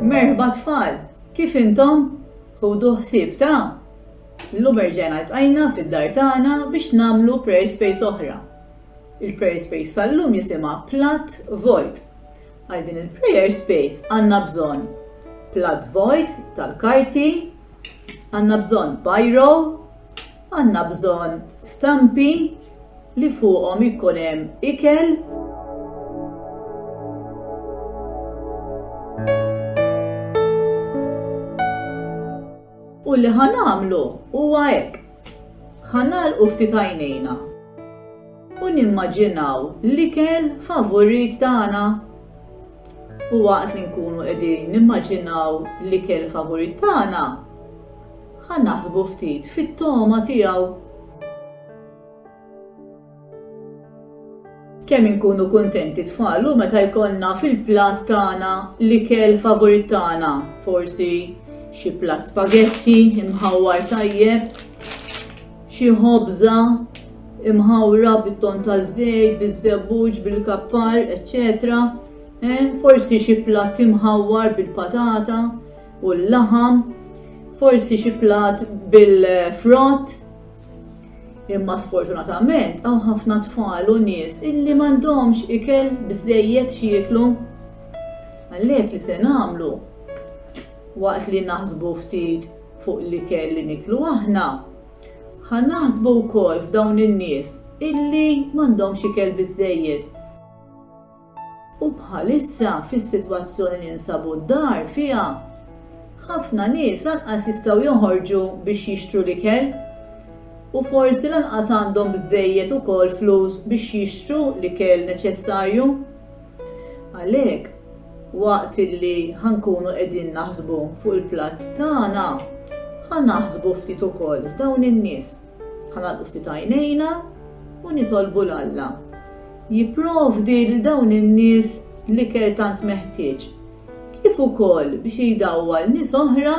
Merħba tfal! Kif intom? Ħudu ħsieb ta'. Llum erġajna ltqajna fid-dar tagħna biex nagħmlu prayer space oħra. Il-prayer space tal-lum jisimha Platt Vojt. Għal din il-prayer space għandna bżonn platt vojt tal-karti, għandna bżonn biro, Għandna bżonn stampi li fuqhom ikun hemm ikel. U li ħa nagħmlu huwa hekk. Ħa nagħlqu ftit għajnejna u nimmaġinaw l-ikel favurit tagħna. U waqt li nkunu qegħdin nimmaġinaw l-ikel favurit tagħna, Ħa naħsbu ftit fit-togħma tiegħu. Kemm inkunu kuntenti tfal u meta jkollna fil-platt tagħna l-ikel favurit tagħna, forsi xi platt spaghetti imħawwar tajjeb, xi ħobża imħawra bit-ton taż-żejt, biż-żebbuġ, bil-kappar, eċċetera. Eh, forsi xi platt imħawwar bil-patata. u l-laħam, forsi xi plat bil-frott. Imma sfortunatament hawn ħafna tfal u nies illi m'għandhomx ikel bżejjed xieklu. Għalhekk li se nagħmlu waqt li naħsbu ftit fuq li kell li niklu aħna. Ħan naħsbu wkoll f'dawn in-nies illi m'għandhomx ikel biżejjed U bħalissa fis-sitwazzjoni li nsabu d-dar fiha, ħafna nies lanqas jistgħu joħorġu biex jixtru l-ikel u forsi lanqas għandhom biżżejjed ukoll flus biex jixtru l-ikel neċessarju. Għalhekk, waqt li ħankunu qegħdin naħsbu fuq il-platt tagħna, ħa naħsbu ftit ukoll f'dawn in-nies. Ħa nagħlqu ftit għajnejna u nitolbu 'l Alla jipprovdi lil dawn in-nies l-ikel tant meħtieġ, kif ukoll biex jdawwal nies oħra,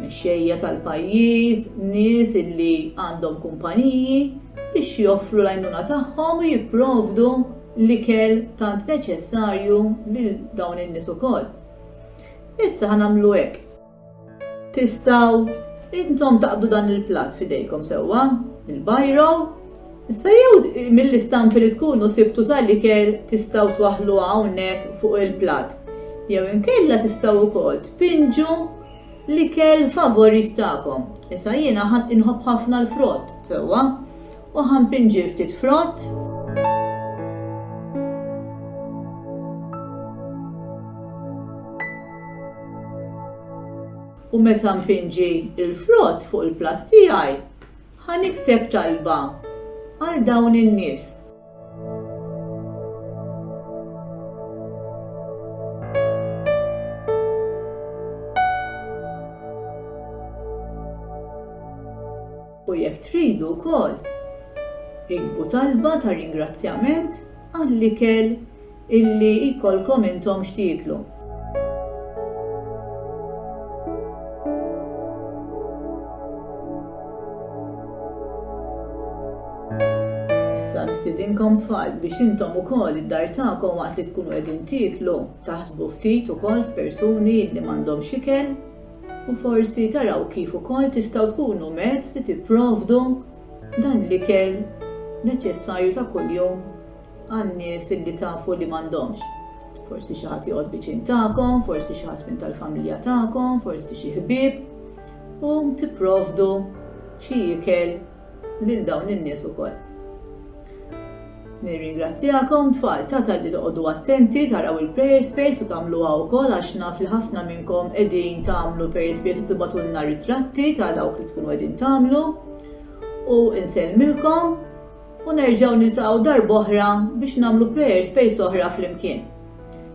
mexxejja tal-pajjiż, nies illi għandhom kumpaniji, biex joffru l-għajnuna tagħhom u jipprovdu l-ikel tant neċessarju lil dawn in-nies ukoll. Issa ħa nagħmlu hekk. Tistgħu intom taqbdu dan il-platt f'idejkom sewwa, il-bajro, Issa jew mill-istampi li tkunu sibtu tal-ikel tistgħu twaħlu hawnhekk fuq il-platt. Jew inkella tistgħu wkoll tpinġu l-ikel favorit tagħkom. Issa jiena inħobb ħafna l-frott, sewwa. U ħa npinġir ftit frott. U meta npinġi l-frott fuq il-platt tiegħi, ħa nikteb talba għal dawn in-nies. U jekk tridu wkoll, iktbu talba ta' ringrazzjament għall-ikel illi jkollkom intom x'tieklu. Issa nistidinkom tfal biex intom ukoll id-dar tagħkom waqt li tkunu qegħdin tieklu taħsbu ftit ukoll f'persuni li m'għandhomx ikel u forsi taraw kif ukoll tistgħu tkunu mezz li tipprovdu dan l-ikel neċessarju ta' kuljum għan-nies li tafu li m'għandhomx. Forsi xi ħadd joqgħod viċin tagħkom, forsi xi ħadd minn tal-familja tagħkom, forsi xi ħbieb, u tipprovdu xi ikel lil dawn in-nies ukoll. Nirringrazzjakom tfal ta' talli toqogħdu attenti taraw il-prayer space u tagħmluha wkoll għax naf li ħafna minnkom qegħdin tagħmlu prayer space u tibgħatulna ritratti ta' dawk li tkunu qegħdin tagħmlu. U insellmilkom u nerġgħu niltaqgħu darb'oħra biex nagħmlu prayer space oħra flimkien.